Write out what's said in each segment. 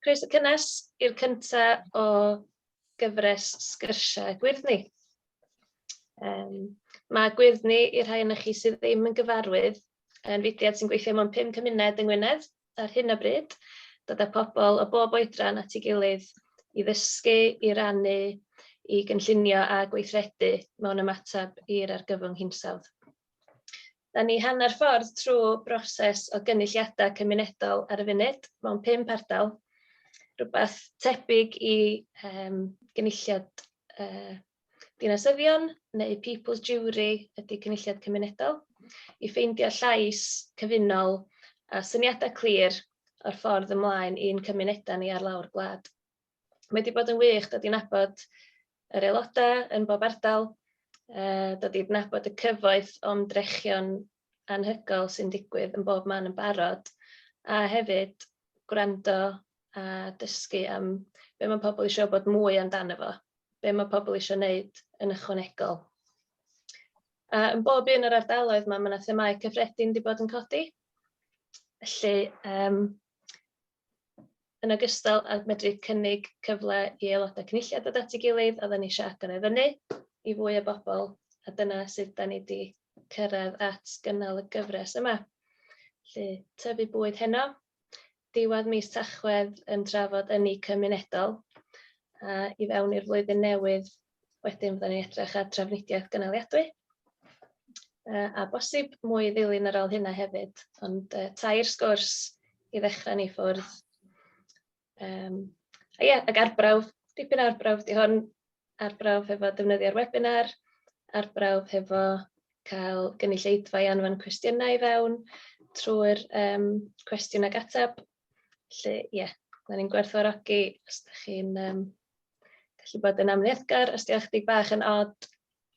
Croeso cynnes i'r cyntaf o gyfres sgyrsiau Gwyrddni. Um, mae Gwyrddni i'r rhai yna chi sydd ddim yn gyfarwydd yn fudiad sy'n gweithio mewn pum cymuned yng Ngwynedd ar hyn o bryd, dod â pobl o bob oedran at ei gilydd i ddysgu, i rannu, i gynllunio a gweithredu mewn ymateb i'r argyfwng hinsawdd. Da ni hanner ffordd trwy broses o gynulliadau cymunedol ar y funud mewn pump ardal, rhywbeth tebyg i yym gynulliad yy dinasyddion neu people's jury ydy cynulliad cymunedol, i ffeindio llais cyfunol a syniadau clir o'r ffordd ymlaen i'n cymunedau ni ar lawr gwlad. Mae 'di bod yn wych dod i nabod yr aeloda' yn bob ardal, yy dod i adnabod y cyfoeth o ymdrechion anhygoel sy'n digwydd yn bob man yn barod, a hefyd gwrando a dysgu am be' ma' pobl isio wbod mwy amdano fo, be' ma' pobl isio wneud yn ychwanegol. A yn bob un o'r ardaloedd 'ma ma' 'na themâu cyffredin 'di bod yn codi, felly yym Yn ogystal â medru cynnig cyfle i aelodau cynulliad ddod at ei gilydd, oedden ni eisiau agor e fyny i fwy o bobl, a dyna sut 'da ni 'di cyrraedd at gynnal y gyfres yma. Felly, tyfu bwyd heno, diwedd mis Tachwedd yn trafod ynni cymunedol, a i fewn i'r flwyddyn newydd Wedyn fydden ni'n edrych ar drafnidiaeth gynaliadwy. Uh, a bosib mwy ddilyn ar ôl hynna hefyd, ond uh, tair sgwrs i ddechrau ni ffwrdd. Um, a ie, yeah, ac arbrawf, dipyn arbrawf, di hwn arbrawf hefo defnyddio'r webinar, arbrawf hefo cael gynulleidfa i anfon cwestiynau i fewn trwy'r um, cwestiwn ag ateb Felly, ie, yeah, da ni'n gwerthfawrogi os da chi'n um, gallu bod yn amlieddgar, os diolch chdi bach yn od,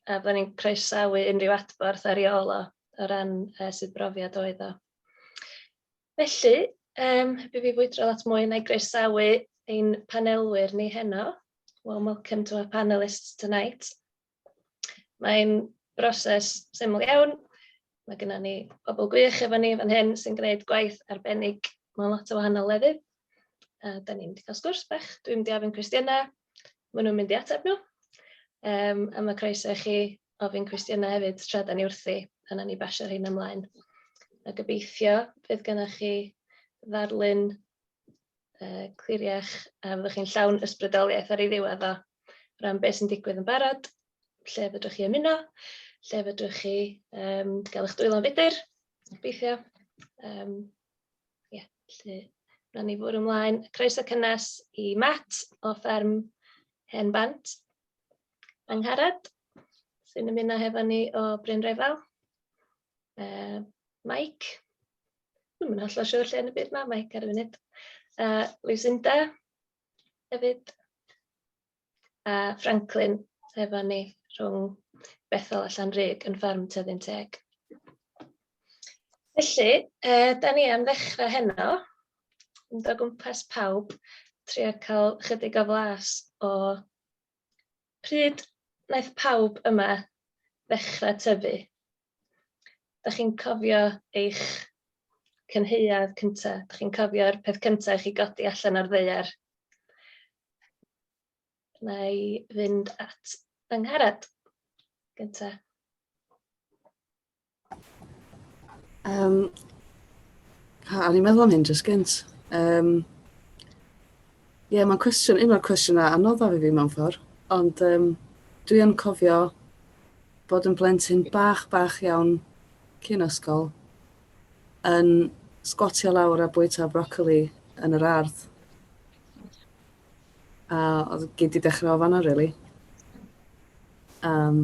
a da ni'n croesawu unrhyw adborth ar iol o, o ran uh, sydd brofiad oedd o. Felly, um, heb i fi fwydro lot mwy, na i groesawu ein panelwyr ni heno. Well, welcome to our panelists tonight. Mae'n broses syml iawn. Mae gennym ni bobl gwych efo ni fan hyn sy'n gwneud gwaith arbennig mewn lot o wahanol lefydd. A da ni'n cael sgwrs bach, dwi'n mynd i ofyn cwestiynau, maen nhw'n mynd i ateb nhw. Um, a mae croeso i chi ofyn cwestiynau hefyd tra da ni wrthi, pan ni basio rhain ymlaen. A gobeithio bydd gennych chi ddarlun yy cliriach a fyddwch chi'n llawn ysbrydoliaeth ar ei ddiwedd o ran beth sy'n digwydd yn barod, lle fedrwch chi ymuno, lle fedrwch chi um, gael eich dwylo'n fudur, gobeithio. Um, yeah, lle rhan ni fwrw ymlaen. Croeso cynnes i Matt o fferm Hen Bant, Angharad, sy'n ymuno hefo ni o Bryn Refel. Uh, Mike. Dwi'n mynd allan siwr lle yn y byd mae Mike ar y funud. Uh, Lucinda hefyd. A uh, Franklin efo ni rhwng Bethel a Llanrug yn ffarm Tyddyn Teg. Felly, uh, da ni am ddechrau heno, yn dod gwmpas pawb, trio cael chydig o flas o Pryd wnaeth pawb yma ddechrau tyfu? Dach chi'n cofio eich cynheuad cynta? Dach chi'n cofio'r peth cynta i chi godi allan o'r ddeiar? Na i fynd at yng Ngharad gynta. Um, ha, o'n i'n meddwl am hyn jyst gynt. Um, Ie, yeah, mae'n cwestiwn, un o'r cwestiynau anoddaf i fi mewn ffordd, ond um, dwi yn cofio bod yn blentyn bach, bach iawn cyn ysgol yn sgwatio lawr a bwyta brocoli yn yr ardd. A oedd gyd 'di dechrau o fan'na rili. Yym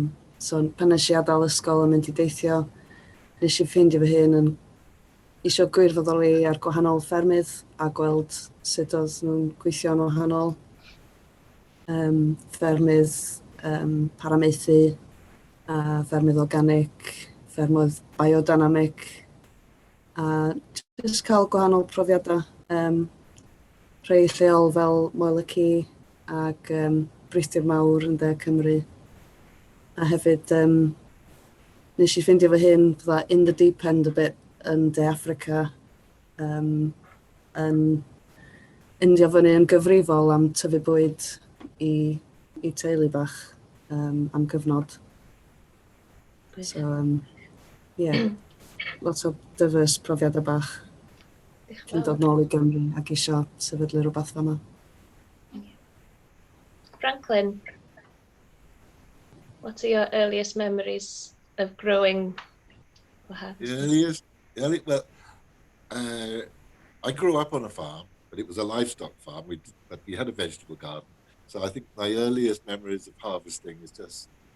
so pan nesh i adael ysgol a mynd i deithio nesh i ffeindio fy hun yn isio gwirfoddoli ar gwahanol ffermydd a gweld sut oedd nhw'n gweithio'n wahanol. Yym ffermydd yym paramaethu a ffermydd organic, ffermydd biodynamic. a jyst cael gwahanol profiadau. Um, rhai lleol fel Moel y Ci ac um, Brithdir Mawr yn De Cymru. A hefyd, um, nes i ffeindio fy hyn fydda in the deep end a bit yn De Africa, um, yn indio fyny yn gyfrifol am tyfu bwyd i, i teulu bach um, am gyfnod. So, um, yeah, lot o dyfys profiadau bach. Dwi'n dod nôl i Gymru ac eisiau sefydlu rhywbeth fama. Franklin, what are your earliest memories of growing up? Earliest, early, well, uh, I grew up on a farm, but it was a livestock farm, we, but we had a vegetable garden. So I think my earliest memories of harvesting is just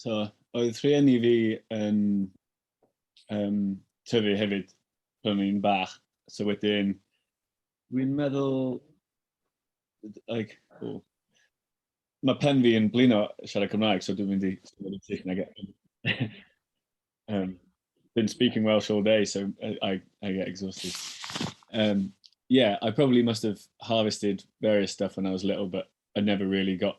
So, oedd rhieni fi yn um, tyfu hefyd pan i'n bach. So wedyn, dwi'n meddwl, like, oh, mae pen fi yn blino siarad Cymraeg, so dwi'n mynd i siarad yn Saesneg. um, been speaking Welsh all day, so I, I get exhausted. Um, yeah, I probably must have harvested various stuff when I was little, but I never really got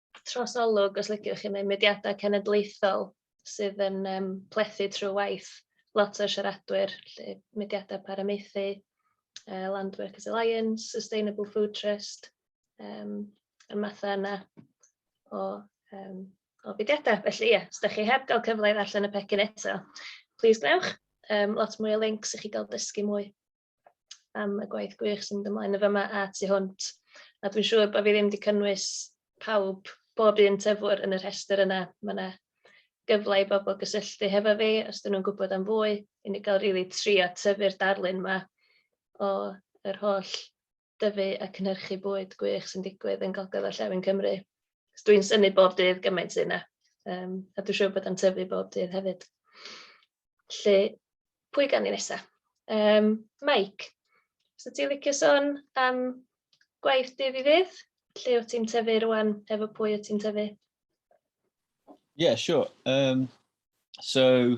trosolwg, os liciwch chi, neu mudiadau cenedlaethol sydd yn um, plethu trwy waith lot o'r siaradwyr, lle mudiadau paramaethu, uh, Land Workers Alliance, Sustainable Food Trust, um, y mathau yna o, um, o fudiadau. Felly ie, yeah, os ydych chi heb gael cyfle i ddarllen y pecyn eto, please gwnewch. Um, lot mwy o links i chi gael dysgu mwy. am y gwaith gwych sy'n mynd ymlaen yn fama a tu hwnt. A dwi'n siŵr bod fi ddim wedi cynnwys pawb, bob un tyfwr yn y rhestr yna. Mae yna gyfle i bobl gysylltu hefo fi os dyn nhw'n gwybod am fwy. I ni gael rili really trio tyfu'r darlun yma o yr holl dyfu a cynhyrchu bwyd gwych sy'n digwydd yn Gogledd Orllewin Cymru. So dwi'n synnu bob dydd gymaint sydd yna, yym, a dwi'n siŵr bod o'n tyfu bob dydd hefyd. Felly, pwy gan ni nesa? Um, Mike, so ti'n licio sôn am gwaith dydd i ddydd? Lle wyt ti'n tyfu rwan, efo pwy wyt ti'n tyfu? Yeah, sure. Um, so,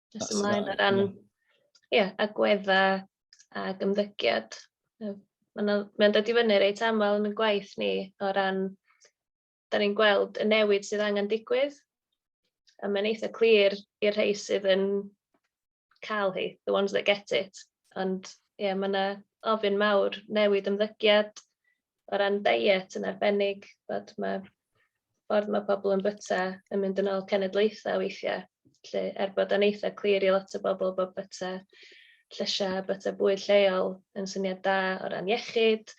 Nes ymlaen o ran ie, agweddau a gymddygiad. Mae'n ma dod i fyny reit aml yn y gwaith ni o ran, da ni'n gweld y newid sydd angen digwydd, a mae'n eitha clir i'r rhai sydd yn cael hi, the ones that get it. Ond ie, mae yna ofyn mawr newid ymddygiad, o ran diet yn arbennig, bod ma' ffordd ma' pobl yn byta yn mynd yn ôl cenedlaethau weithiau, lle er bod o'n eitha clir i lot o bobl bod byta llysiau a byta bwyd lleol yn syniad da o ran iechyd,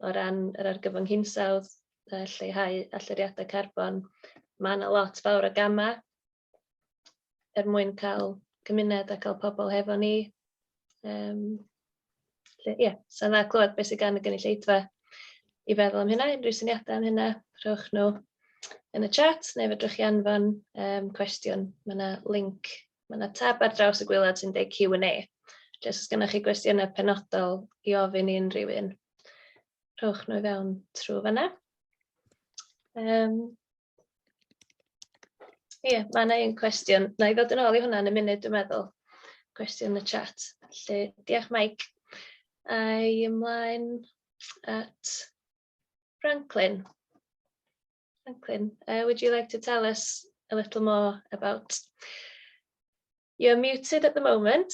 o ran yr argyfwng hinsawdd, lleihau allyriadau carbon, mae yna lot fawr o gamau. er mwyn cael cymuned a cael pobl hefo ni. Um, ie, yeah, sa'n dda clywed beth sydd gan y gynulleidfa i feddwl am hynna, unrhyw syniadau am hynna, rhowch nhw yn y chat, neu fedrwch chi anfon um, cwestiwn. Mae yna link, mae yna tab ar draws y gwylod sy'n dweud Q&A. Jyst os gennych chi gwestiynau penodol i ofyn i unrhyw un, rhowch nhw i fewn trwy fanna. Um, Ie, yeah, mae yna un cwestiwn. Na i ddod yn ôl i hwnna yn y munud, dwi'n meddwl. Cwestiwn y chat. Felly, diolch Mike. A i ymlaen at Franklin. Franklin, uh, would you like to tell us a little more about... You're muted at the moment.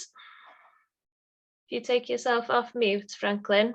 If you take yourself off mute, Franklin.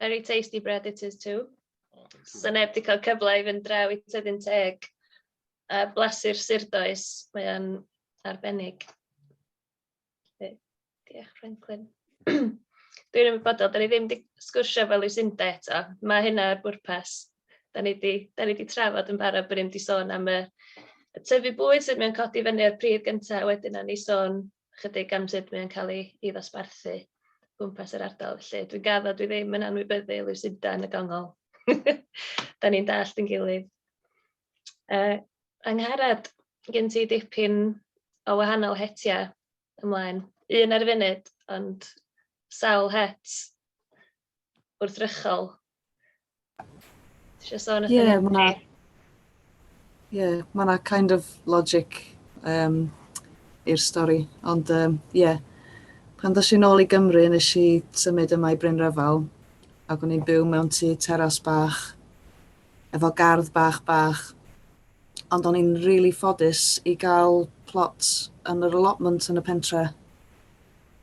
Very tasty bread it is too. Oh, thank you. 'Sa neb 'di cael cyfle i fynd draw i Tyddyn Teg a blasu'r surdoes, mae o'n arbennig. Felly, Diolch, Franklin. Dwi'n ymwybodol, da ni ddim wedi sgwrsio fel Lucinda eto. Mae hynna ar bwrpas. Da ni wedi da ni wedi trafod yn barod bod ni'n mynd i sôn am y y tyfu bwyd sydd mewn codi fyny o'r pridd gyntaf, wedyn o'n i sôn ychydig am sut mae o'n cael ei ei ddosbarthu o gwmpas yr ardal felly. Dwi'n gaddo dwi ddim yn anwybyddu Lucinda yn y gongol. da ni'n dallt yn gilydd. Uh, Angharad, gen ti dipyn o wahanol hetiau ymlaen. Un ar y funud, ond sawl het gwrthrychol. Tisio sôn yeah, am hynny? Ie, mae yna kind of logic um, i'r stori. Ond ie, um, yeah. pan ddys i'n ôl i Gymru, nes i symud yma i Bryn Rhyfel, ac o'n i'n byw mewn tu teras bach, efo gardd bach bach, ond o'n i'n rili really ffodus i gael plot yn yr allotment yn y pentre.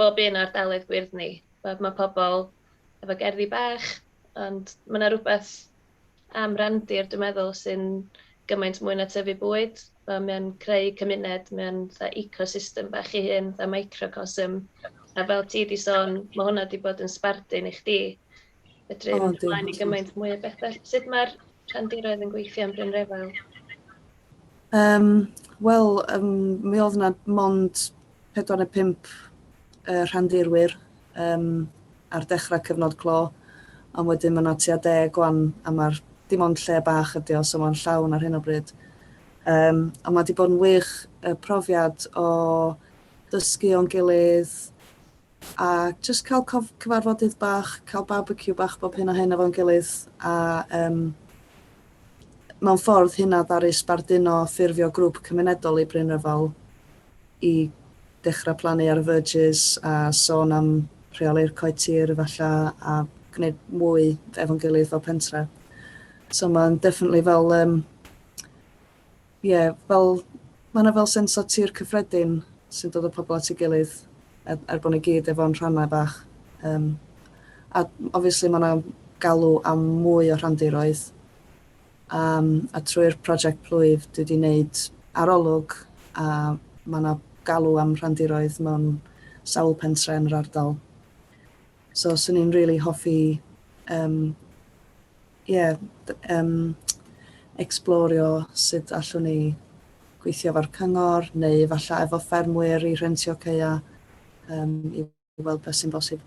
bob un o ardaloedd gwyrdd ni. Wel ma' pobol efo gerddi bach ond ma' 'na rwbeth am randir dwi meddwl sy'n gymaint mwy na tyfu bwyd fel mae o'n creu cymuned mae o'n fatha ecosystem bach ei hun fatha microcosm a fel ti 'di sôn ma' hwnna 'di bod yn sbardun i chdi fedru mynd ymlaen i gymaint mwy o bethau. Sut mae'r rhandiroedd yn gweithio yn Bryn Refel? Um, Wel, um, mi oedd yna mond 4 neu 5 uh, rhandirwyr um, ar dechrau cyfnod clo, ond wedyn mae yna tua deg gwan, a mae'r dim ond lle bach ydi o, so mae'n llawn ar hyn o bryd. Um, a mae wedi bod yn wych y profiad o dysgu o'n gilydd, A jyst cael cof- cyfarfodydd bach, cael barbeciw bach bob hyn a hyn efo'n gilydd, a yym mewn ffordd hynna ddaru sbarduno ffurfio grŵp cymunedol i Bryn Rhyfel i dechrau plannu ar y verges a sôn am rheoli'r coed tir efallai a gwneud mwy efo'n gilydd fel pentre. So mae'n definitely fel yym Ie, fel, mae 'na fel sens o tir cyffredin sy'n dod â pobl at ei gilydd er, er bod ni gyd efo'n rhannau bach. Um, a obviously mae 'na galw am mwy o rhandiroedd. Um, a trwy'r prosiect plwyf dwi wedi wneud arolwg a mae 'na galw am rhandiroedd mewn sawl pentre yn yr ardal. So swn i'n rili really hoffi um, ie, yym, ecsblorio sut allwn ni gweithio efo'r cyngor neu efallai efo ffermwyr i rhentio ceia um, i weld beth sy'n bosib.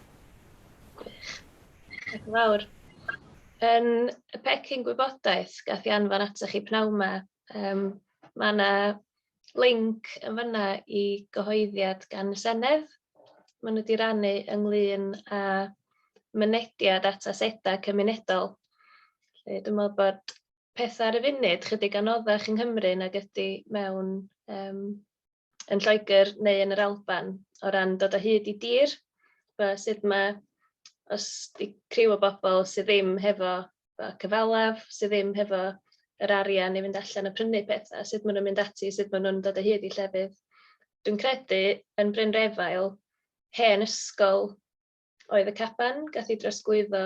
Gwych. Ac yn fawr. Yn y pecyn gwybodaeth gath i anfon atoch chi pnawn 'ma, um, mae yna linc yn fanna i gyhoeddiad gan y Senedd. Maen nhw wedi rannu ynglyn â mynediad at asedau cymunedol. Felly, dwi'n meddwl bod pethau ar y funud chydig anoddach yng Nghymru nag ydy mewn um, yn Lloegr neu yn yr Alban o ran dod o hyd i dir. Fe, sut mae, os di criw o bobl sydd ddim hefo y cyfalaf, sydd ddim hefo yr arian i fynd allan a prynu pethau, sut maen nhw'n mynd ati, sut maen nhw'n dod o hyd i llefydd. Dwi'n credu yn Bryn Refael, hen ysgol oedd y caban, gath ei drosglwyddo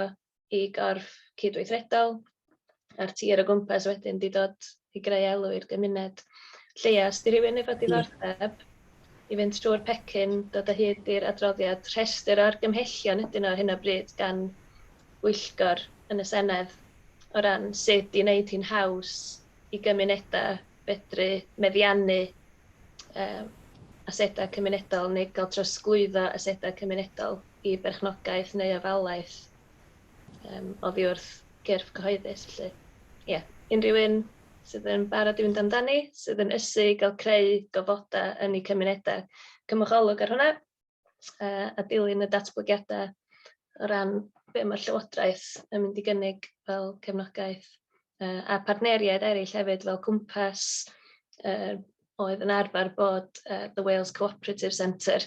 i gorff cydweithredol, a'r tir o gwmpas wedyn wedi dod i greu elw i'r gymuned. Lleia, os 'di rhywun efo diddordeb i fynd trwy'r pecyn, dod o hyd i'r adroddiad, rhestr o argymhellion ydyn nhw ar hyn o bryd gan bwyllgor yn y Senedd o ran sut i wneud hi'n haws i gymunedau fedru meddiannu um, asedau cymunedol neu gael trosglwyddo asedau cymunedol i berchnogaeth neu ofalaeth. Yym oddi wrth gyrff cyhoeddus felly ie unrhyw un sydd yn barod i fynd amdani sydd yn ysu i gael creu gofoda yn eu cymunedau cymwch olwg ar hwnna yy a dilyn y datblygiada o ran be' ma'r llywodraeth yn mynd i gynnig fel cefnogaeth uh, a partneriaid eraill hefyd fel Cwmpas, uh, oedd yn arfer bod uh, The Wales Cooperative Centre,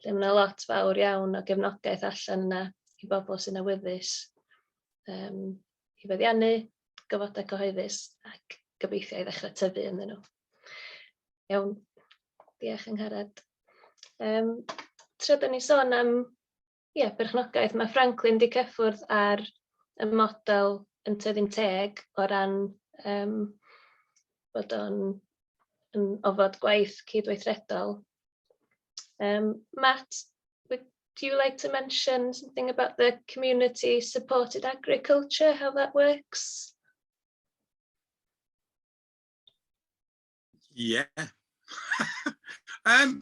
lle mae yna lot fawr iawn o gefnogaeth allan yna i bobl sy'n awyddus um, i feddiannu, gyfodau cyhoeddus ac gobeithio i ddechrau tyfu ynddyn nhw. Iawn, diolch yng Ngharad. Um, tra da ni sôn am Ie, perchnogaeth. Mae Franklin wedi cyffwrdd ar y model yn tyfu'n teg o ran um, bod o'n yn ofod gwaith cydweithredol. Um, Matt, would you like to mention something about the community supported agriculture, how that works? Yeah. um,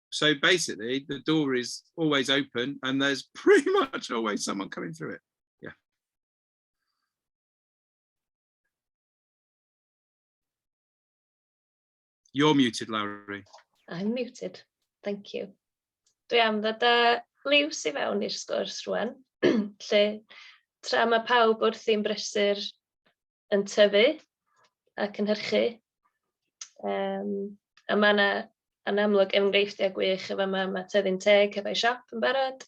So basically, the door is always open and there's pretty much always someone coming through it. Yeah. You're muted, Lowry. I'm muted. Thank you. Dwi am ddod â liws i fewn i'r sgwrs rwan, lle tra mae pawb wrth i'n brysur yn tyfu a cynhyrchu, yym, a ma' 'na yn amlwg enghreifftiau gwych yn fama, ma' Tyddyn Teg hefo'u siop yn barod,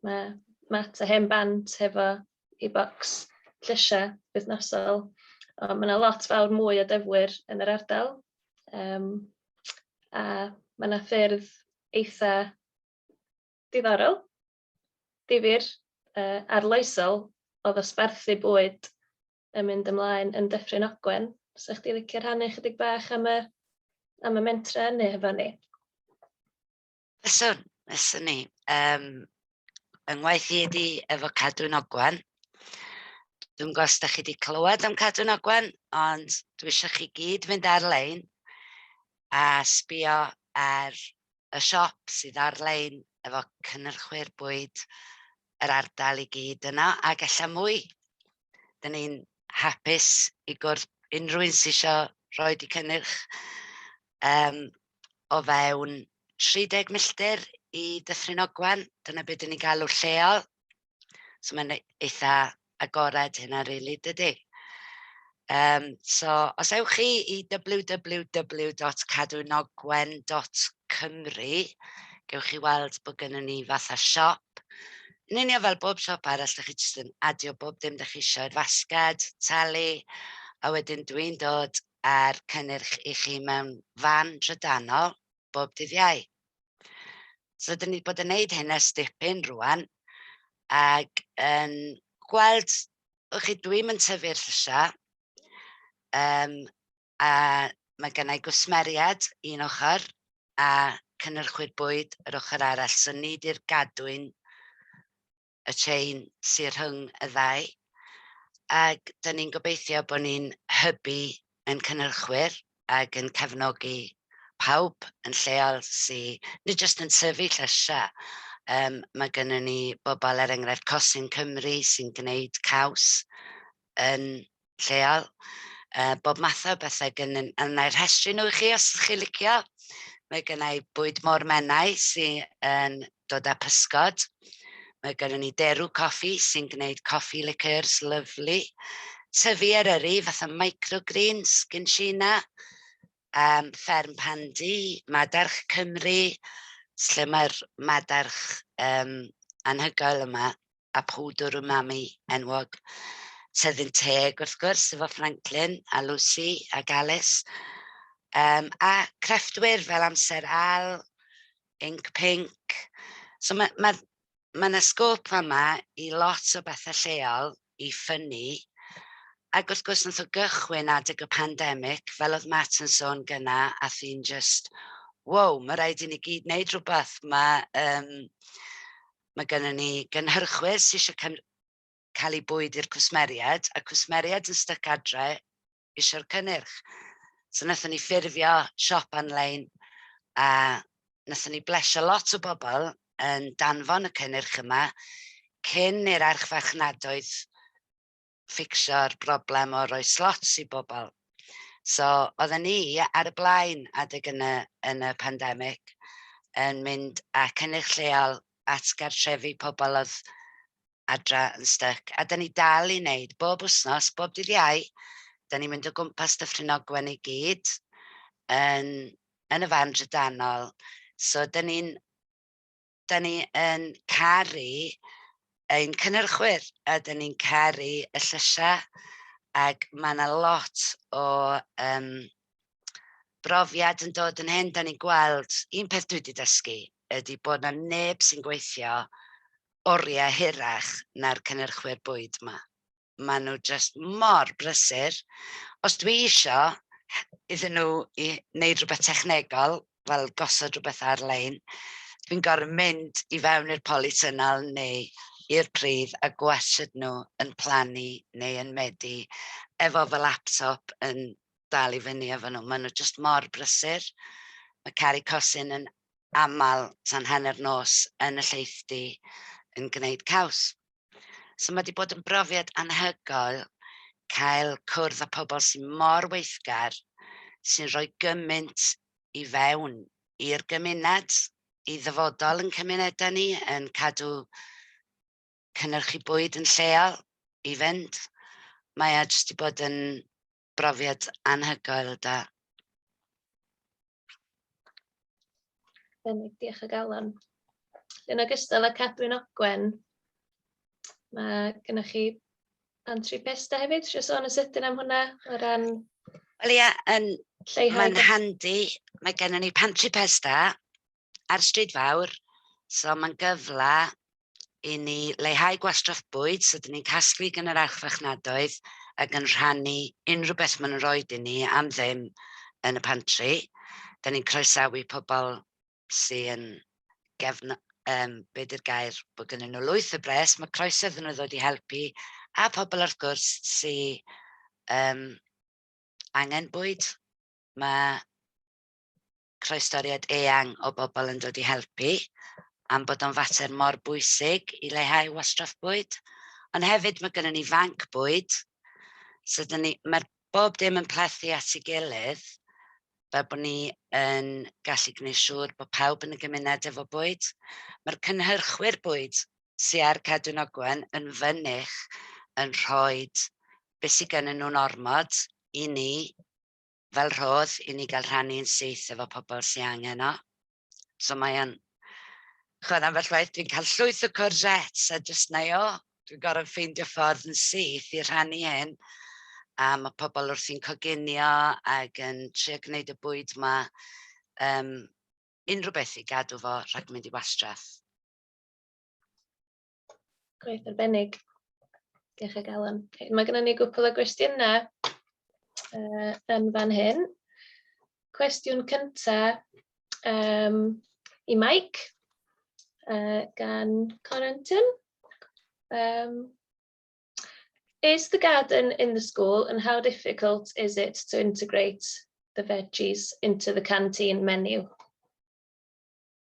ma' Matt a Hen Bant hefo eu bocs llysiau wythnosol, ond ma' 'na lot fawr mwy o dyfwyr yn yr ardal, yym, a ma' 'na ffyrdd eitha diddorol. difyr, uh, arloesol o ddosbarthu bwyd yn mynd ymlaen yn Dyffryn Ogwen. Sa'ch di licio rhannu chydig bach am y, am y mentra hynny hefo ni? Fyswn, fyswn ni. Um, yng ngwaith i ydi efo Cadwyn Ogwen. Dwi'n gos da chi wedi clywed am Cadwyn Ogwen, ond dwi eisiau chi gyd fynd ar-lein a sbio ar y siop sydd ar-lein efo cynhyrchwyr bwyd yr ardal i gyd yno ac ella mwy. Dyn ni'n hapus i gwrdd unrhyw un sydd isio rhoi eu cynnyrch yym o fewn 30 milltir i Dyffryn Ogwen, dyna be dan ni'n galw'r lleol. So mae'n ei- eitha agored hynna rili dydi? Yym so os ewch chi i double-you double-you double-you dot cadwynogwen dot cymru gewch chi weld bod gynnon ni fatha siop yn union fel bob siop arall dach chi jyst yn adio bob dim dach chi isio i'r fasged, talu a wedyn dwi'n dod a'r cynnyrch i chi mewn fan drydanol bob dydd Iau. So dyn ni wedi bod yn wneud hyn ers dipyn rwan, ac yn gweld, o'ch chi, dwi'm yn tyfu'r llysiau, um, a mae gennau gwsmeriad un ochr, a cynnyrchwyr bwyd yr ochr arall, so nid i'r gadwyn y trên sy rhwng y ddau, ac dan ni'n gobeithio bod ni'n hybu ein cynhyrchwyr ac yn cefnogi pawb yn lleol sy nid jyst yn tyfu llysiau, yym mae gennyn ni bobl, er enghraifft Cosyn Cymru, sy'n gwneud caws yn lleol, yy bob math o bethe gyn- a wna i rhestru nhw i chi os dach chi'n licio. Mae gynna i bwyd môr Menai sy yn dod â pysgod. Mae gynnon ni derw coffi sy'n gwneud coffi liqueurs lyfli. Tyfu Eryri fatha microgreens gin Sheena. Yym fferm Pandy, madarch Cymru, lle mae'r madarch yym anhygoel yma. a phwdwr umami enwog, sydd yn teg wrth gwrs efo Franklin a Lucy ac Alice, um, a crefftwyr fel Amser Al, Inc Pink. So mae ma, ma yna sgôp yma i lot o bethau lleol i ffynnu, ac wrth gwrs nath o gychwyn adeg y pandemig, fel oedd Matt yn sôn gyna, a thyn just, wow, mae rhaid i ni gyd wneud rhywbeth, mae... Um, Mae gennyn ni gynhyrchwyr sy eisiau cyn- cael eu bwyd i'r cwsmeriaid, a cwsmeriaid yn styc adre eisiau'r cynnyrch. So wnaethon ni ffurfio siop anlein a wnaethon ni blesio lot o bobl yn danfon y cynnyrch yma cyn i'r archfarchnadoedd ffixio'r broblem o roi slots i bobl. So, oedden ni ar y blaen adeg yn y, yn y pandemig yn mynd a cynnig lleol at gartrefi pobl oedd adra yn styc. A da ni dal i wneud bob wythnos, bob dydd iau, da ni'n mynd o gwmpas Dyffryn Ogwen i gyd yn, yn y fan drydanol. So, da ni'n dan ni yn caru ein cynnyrchwyr a dan ni'n caru y llysiau ac mae yna lot o um, brofiad yn dod yn hyn. Da ni'n gweld, un peth dwi wedi dysgu ydy bod yna neb sy'n gweithio oriau hirach na'r cynnyrchwyr bwyd yma. maen nhw jyst mor brysur. Os dwi isio iddyn nhw i wneud rhywbeth technegol, fel gosod rhywbeth ar-lein, dwi'n gorfod mynd i fewn i'r polytunnel neu i'r pridd a gwasod nhw yn plannu neu yn medu efo fy laptop yn dal i fyny efo nhw. Maen nhw jyst mor brysur. Mae caru cosin yn aml tan hanner nos yn y lleithdy yn gwneud caws. So mae wedi bod yn brofiad anhygoel cael cwrdd â pobl sy'n mor weithgar, sy'n rhoi gymaint i fewn i'r gymuned, i ddyfodol yn cymunedau ni, yn cadw cynnyrchu bwyd yn lleol i fynd. Mae e jyst wedi bod yn brofiad anhygoel da. Benig, diolch o galon. Yn ogystal â Cadwyn Ogwen, mae gennych chi Antri Pesta hefyd, eisiau sôn yn sydyn am hwnna o ran... Wel ia, yn... Mae'n handi, mae gennym ni Pantri Pesta, a'r Stryd Fawr, so mae'n gyfle i ni leihau gwastraff bwyd, so dyn ni'n casglu gan yr archfarchnadoedd ac yn rhannu unrhyw beth maen nhw'n rhoi i ni am ddim yn y pantri. Dyn ni'n croesawu pobl sy yn gefn... yym be 'di'r gair, bod gennyn nhw lwyth o bres, mae croeso iddyn nhw ddod i helpu, a phobl wrth gwrs sy yym angen bwyd. Mae croestoriad eang o bobl yn dod i helpu, am bod o'n fater mor bwysig i leihau wastraff bwyd, ond hefyd mae gynnon ni fanc bwyd, so dyn ni, mae'r bob dim yn plethu at ei gilydd, fel bod ni yn gallu gwneud siŵr bod pawb yn y gymuned efo bwyd. Mae'r cynhyrchwyr bwyd sy ar Cadwyn Ogwen yn fynych yn rhoi beth sydd gennyn nhw'n ormod i ni, fel rhodd i ni gael rhannu'n syth efo pobl sy'n angen o. So mae o'n... Chod, am fel waith, dwi'n cael llwyth o corsets a jyst na i o. Dwi'n gorfod ffeindio ffordd yn syth i rhannu hyn. A mae pobl wrthi'n coginio ac yn trio gwneud y bwyd yma um, unrhyw beth i gadw fo rhag mynd i wastraff. Gwaith arbennig. Diolch o galon. Okay, mae gennym ni gwpl o gwestiynau uh, yn fan hyn. Cwestiwn cyntaf um, i Mike uh, gan Corentin. Um, is the garden in the school and how difficult is it to integrate the veggies into the canteen menu?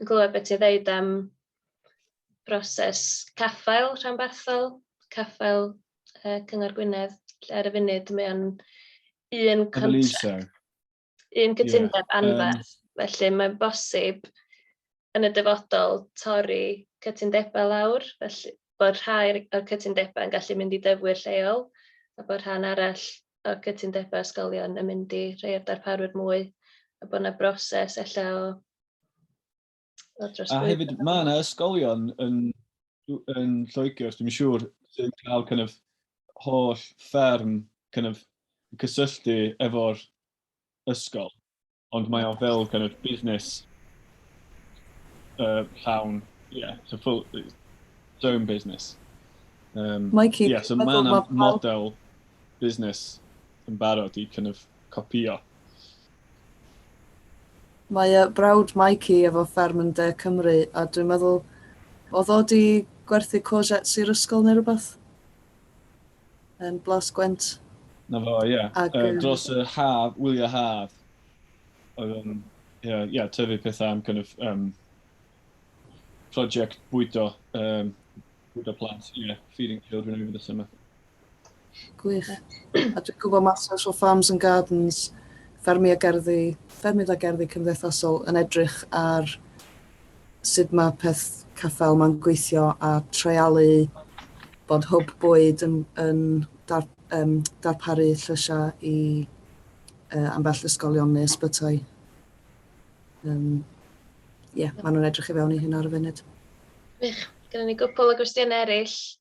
yn glywed beth ti'n ddeud am broses caffael rhanbarthol, caffael uh, Cyngor Gwynedd, lle ar y funud mae o'n un contract, un cytundeb yeah. anferth. Um, Felly mae'n bosib yn y dyfodol torri cytundebau lawr, felly bod rhai o'r cytundebau yn gallu mynd i dyfwyr lleol, a bod rhan arall o'r cytundebau ysgolion yn mynd i rhai o'r darparwyr mwy, a bod yna broses efallai o A hefyd, mae yna ysgolion yn, yn Lloegr, os dwi'n siŵr, sy'n cael kind of, holl fferm kind of, cysylltu efo'r ysgol, ond mae o fel kind of, busnes uh, llawn, yeah, so full, its own business. Um, Mikey, yeah, so mae yna model busnes yn barod i kind of, copio. Mae yy brawd Mikey efo fferm yn de Cymru a dwi'n meddwl oedd o di gwerthu courgettes i'r ysgol neu rhywbeth yn Blas Gwent. Na fo, ie. Ac, yy, yy... dros y haf, wyliau haf, oedd yn, ie, ie, tyfu pethau am kind of, um, project bwydo, um, bwydo plant, ie, feeding children over the summer. Gwych. A dwi'n gwybod mae Social o Farms and Gardens, ffermydd a gerddi, ffermydd a gerddi cymdeithasol yn edrych ar sut mae peth caffael mae'n gweithio a treialu bod hwb bwyd yn, yn dar, um, darparu llysiau i uh, ambell ysgolion neu ysbytai. Um, yeah, maen nhw'n edrych i fewn i hyn ar y funud. Wych, gyda ni gwpl o gwestiynau eraill.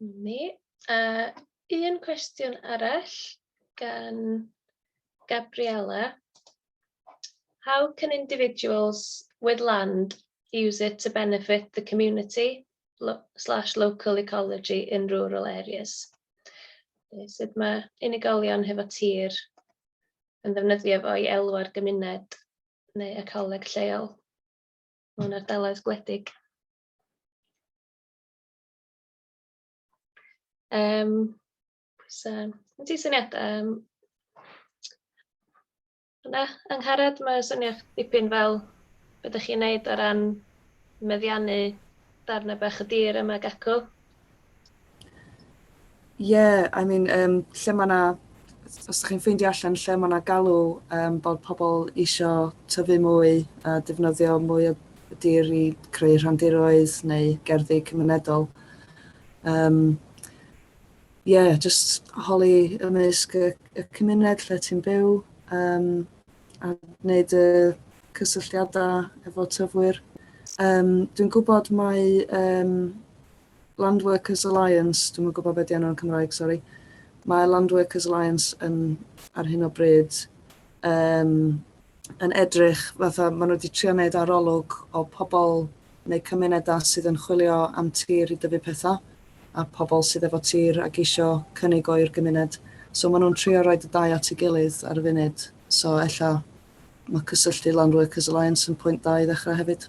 Ni. A un cwestiwn arall gan Gabriella. How can individuals with land use it to benefit the community lo slash local ecology in rural areas? Sut mae unigolion hefo tir yn ddefnyddio fo i elw ar gymuned neu ecoleg lleol mewn ardaloedd gwledig? Um, so, yn ti syniad? Um, yna, Angharad, mae syniad dipyn fel beth ydych chi'n neud o ran meddiannu darnau bach y dir yma gacw? Yeah, I mean, um, lle mae yna, os ydych chi'n ffeindio allan lle mae yna galw um, bod pobl eisiau tyfu mwy a defnyddio mwy o dir i creu rhandiroedd neu gerddi cymunedol. Um, yeah, just holi ymysg y, y cymuned lle ti'n byw um, a wneud y cysylltiadau efo tyfwyr. Um, dwi'n gwybod mae um, Land Workers Alliance, dwi'm yn gwybod be di enw yn Cymraeg, sori. Mae Land Workers Alliance yn, ar hyn o bryd, um, yn edrych fatha, maen nhw wedi trio wneud arolwg o pobl neu cymunedau sydd yn chwilio am tir i dyfu pethau a pobl sydd efo tir ac eisiau cynnig o'i'r gymuned. So maen nhw'n trio rhoi y dau at ei gilydd ar y funud. So ella mae cysylltu Land Workers Alliance yn pwynt da i ddechrau hefyd.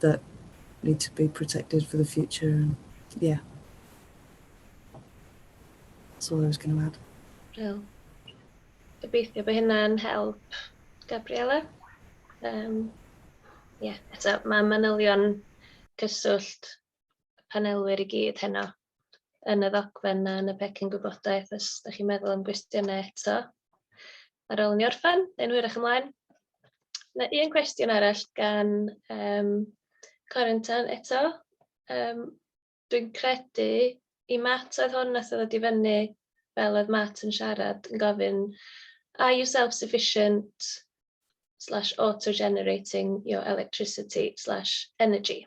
that need to be protected for the future and yeah. That's all I was going to add. Brill. Gobeithio bod hynna'n help, Gabriella. Um, yeah, eto, mae manylion cyswllt panelwyr i gyd heno yn y ddogfen na yn y pecyn gwybodaeth os da chi'n meddwl am gwestiynau eto. Ar ôl ni orffen, yn hwyrach ymlaen. Na un cwestiwn arall gan um, Corentan eto. Um, Dwi'n credu i Matt oedd hwn nath oedd i fyny fel oedd Matt yn siarad yn gofyn are you self-sufficient slash auto-generating your electricity slash energy.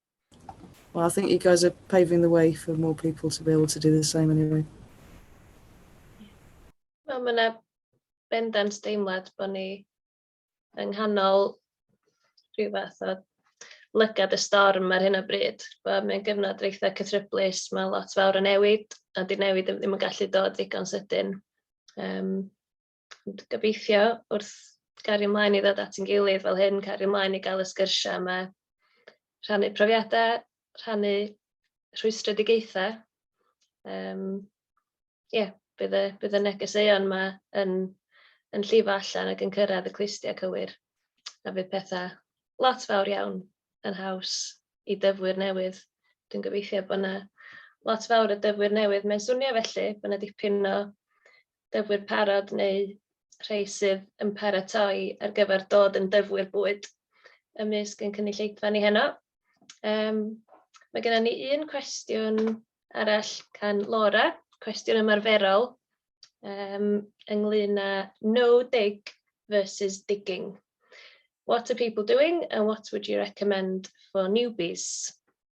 Well, I think you guys are paving the way for more people to be able to do the same anyway. Wel, mae yna bendant deimlad bod ni yng nghanol rhyw fath o lygad y storm ar hyn o bryd. Mae'n gyfnod reitha cythryblus, mae lot fawr yn newid, a di newid ddim yn gallu dod ddigon sydyn. Um, Ond gobeithio, wrth gario ymlaen i ddod at ein gilydd fel hyn, cario ymlaen i gael y sgyrsiau yma, rhannu profiadau, rhannu rhwystredigaethau. Um, yeah, bydd y, bydd y negeseuon yma yn, yn llifo allan ac yn cyrraedd y clustiau cywir. A bydd pethau lot fawr iawn yn haws i dyfwyr newydd. Dwi'n gobeithio bod yna lot fawr o dyfwyr newydd. Mae'n swnio felly bod yna dipyn o dyfwyr parod neu rhai sydd yn paratoi ar gyfer dod yn dyfwyr bwyd ymysg ein cynulleidfa ni heno. Um, mae gennym ni un cwestiwn arall gan Laura, cwestiwn ymarferol um, ynglyn â no dig versus digging. What are people doing and what would you recommend for newbies?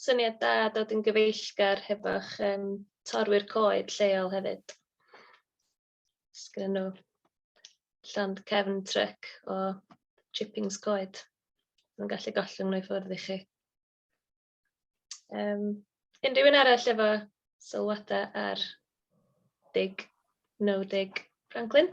Syniad da dod yn gyfeillgar hefo'ch um, torwyr coed lleol hefyd. Sgyn nhw llond cefn tryc o chippings coed. Mae'n gallu gollwng nhw i ffwrdd i chi. Um, unrhyw un arall efo sylwadau ar dig, no dig Franklin?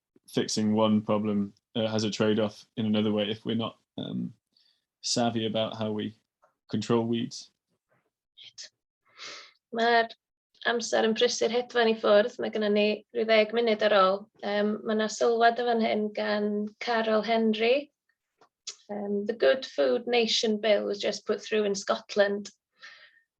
fixing one problem uh, has a trade-off in another way if we're not um, savvy about how we control weeds. Mae'r amser yn prysur hedfan i ffwrdd. Mae gennym ni rhyw ddeg munud ar ôl. Um, mae yna sylwad o fan hyn gan Carol Henry. Um, the Good Food Nation Bill was just put through in Scotland.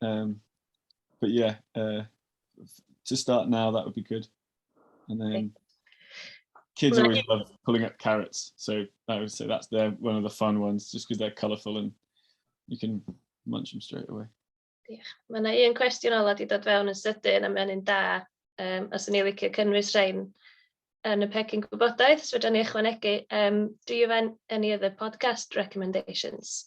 Um, but yeah, uh, to start now, that would be good. And then kids always love pulling up carrots. So I would say that's their one of the fun ones, just because they're colourful and you can munch them straight away. Yeah. Mae yna un cwestiwn ola wedi dod fewn yn sydyn a mae'n un da. Um, os yn ei licio cynnwys rhain yn y pecyn gwybodaeth, so fydden ni ychwanegu. Um, do you have any other podcast recommendations?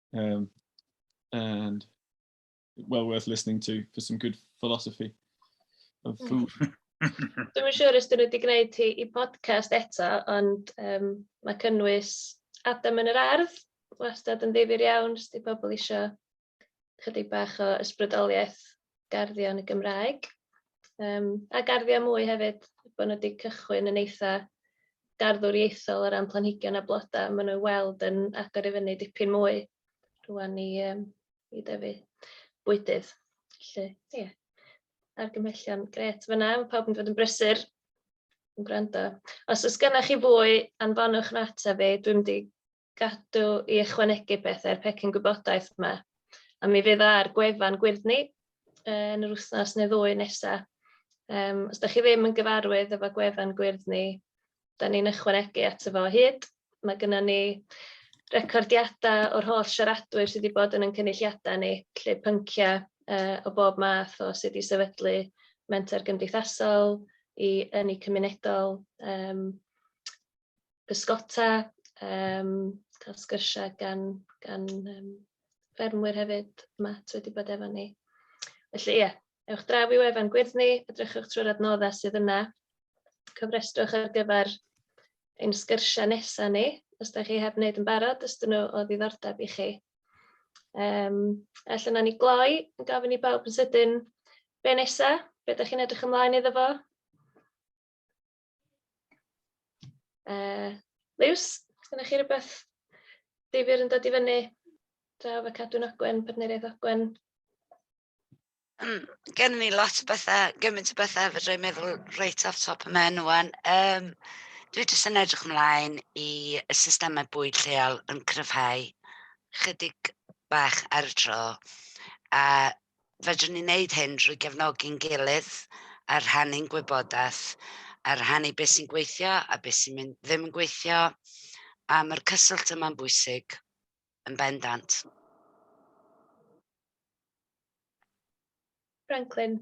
Um, and well worth listening to for some good philosophy of hmm. food. Dwi'n yn siŵr ysdyn nhw wedi gwneud hi i podcast eto, ond um, mae cynnwys Adam yn yr ardd, wastad yn ddifur iawn, sti pobl eisiau chydig bach o ysbrydoliaeth garddio yn y Gymraeg um, a garddio mwy hefyd, bod nhw wedi cychwyn yn eitha garddwr ieithol o ran planhigion a blodau, maen nhw'n weld yn agor i fyny dipyn mwy rwan i, um, i dyfu bwydydd. Felly, ie, yeah. argymhellion gret fyna, mae pawb yn fod yn brysur yn gwrando. Os oes gennych chi fwy, anfonwch yn ateb fi, dwi'n mynd i gadw i ychwanegu pethau i'r pecyn gwybodaeth yma. A mi fydd ar gwefan Gwyrddni yn yr wythnos neu ddwy nesa. Um, os da chi ddim yn gyfarwydd efo gwefan Gwyrddni, da ni'n ychwanegu at efo hyd. Mae gyda ni recordiadau o'r holl siaradwyr sydd wedi bod yn yn cynulliadau ni, lle pynciau uh, o bob math o sydd wedi sefydlu mentor gymdeithasol i yn eu cymunedol. Um, bysgota, yym cael sgyrsia gan gan yym ffermwyr hefyd 'ma sy wedi bod efo ni. Felly ie, ewch draw i wefan Gwyrddni, edrychwch trwy'r adnoddau sydd yna, cofrestrwch ar gyfer ein sgyrsiau nesaf ni, os da chi heb wneud yn barod, os dyn nhw o ddiddordeb i chi. Um, felly na ni gloi, yn gofyn i bawb yn sydyn, be nesaf, be da chi'n edrych ymlaen iddo fo? Uh, Liws, dyna chi rhywbeth difyr yn dod i fyny draw fe cadw'n agwen, partneriaeth agwen? Um, gen ni lot o bethau, gymaint o bethau fe dwi'n meddwl reit off top y men o'n. Um, dwi jyst yn edrych ymlaen i y systemau bwyd lleol yn cryfhau chydig bach ar y tro. A Fedrwn ni wneud hyn drwy gefnogi'n gilydd a rhannu'n gwybodaeth, a rhannu beth sy'n gweithio a beth sy'n mynd ddim yn gweithio, a mae'r cyswllt yma'n bwysig yn bendant. Franklin.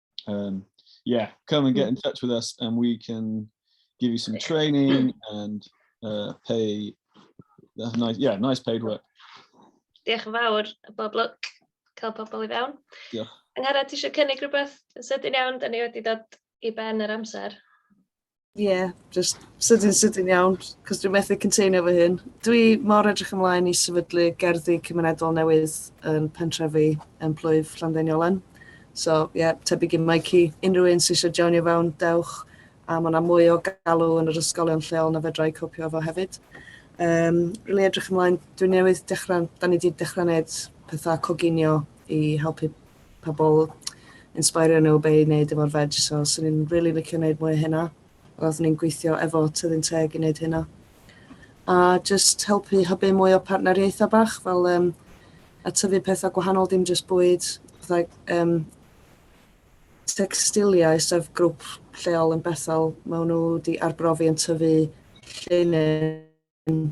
Um, yeah, come and get in touch with us and we can give you some training and uh, pay uh, nice, yeah, nice paid work. Diolch yn fawr, bob lwc, cael pobl i fewn. Diolch. Angharad, ti eisiau cynnig rhywbeth yn sydyn iawn, da ni wedi dod i ben yr amser. Ie, jyst sydyn sydyn iawn, cos dwi'n methu containio fy hun. Dwi mor edrych ymlaen i sefydlu gerddi cymunedol newydd yn pentrefi yn plwyf Llanddeniolen. So ie, yeah, tebyg i Mikey, unrhyw un sy'n eisiau joinio fewn, dewch, a mae yna mwy o galw yn yr ysgolion lleol na fedra i copio efo hefyd. Um, really edrych ymlaen, dwi'n newydd dechrau, da ni wedi dechrau gwneud pethau coginio i helpu pobl, insbeirio nhw be i wneud efo'r veg, so swn i'n rili licio wneud mwy o hynna. Roeddwn ni'n gweithio efo Tyddyn Teg i wneud hynna. A jyst helpu hybu mwy o partneriaethau bach, fel um, a tyfu pethau gwahanol, dim jyst bwyd, fatha um, textiliau, sef grŵp lleol yn Bethel, maen nhw wedi arbrofi yn tyfu llinyn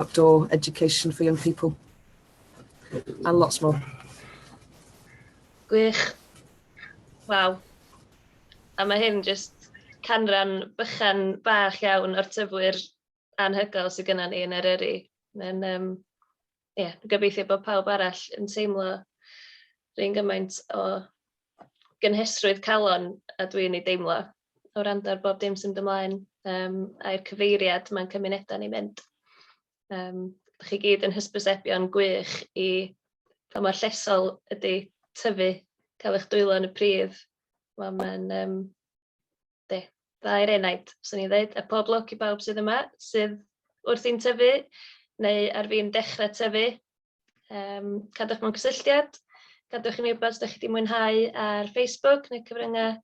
outdoor education for young people, and lots more. Gwych. Waw. A mae hyn jyst canran bychan bach iawn o'r tyfwyr anhygoel sydd gyda ni yn Eryri. Mae'n, um, yeah, gobeithio bod pawb arall yn teimlo rhywun gymaint o gynhesrwydd calon a dwi'n ei deimlo. o wrando ar bob dim sy'n mynd ymlaen um, a'r cyfeiriad mae'n cymunedau ni'n mynd. Um, Dych chi gyd yn hysbysebion gwych i pa mor llesol ydy tyfu, cael eich dwylo yn y prif. Wel, mae'n um, de, dda i'r enaid, swn i'n dweud, a pob lwc i bawb sydd yma, sydd wrth i'n tyfu, neu ar fi'n dechrau tyfu. Um, cadwch mewn cysylltiad, gadwch i mi wybod os ydych chi wedi mwynhau ar Facebook neu cyfryngau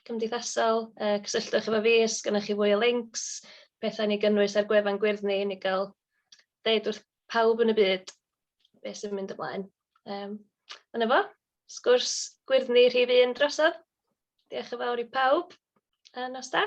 cymdeithasol, yy cysylltwch efo fi os gynnoch chi fwy o lincs, pethau i ni gynnwys ar gwefan gwyrdd ni, i ni gael deud wrth pawb yn y byd be sy'n mynd ymlaen. Yym, a 'na fo, sgwrs gwyrdd ni rhif un drosodd. Diolch yn fawr i pawb, a nos da.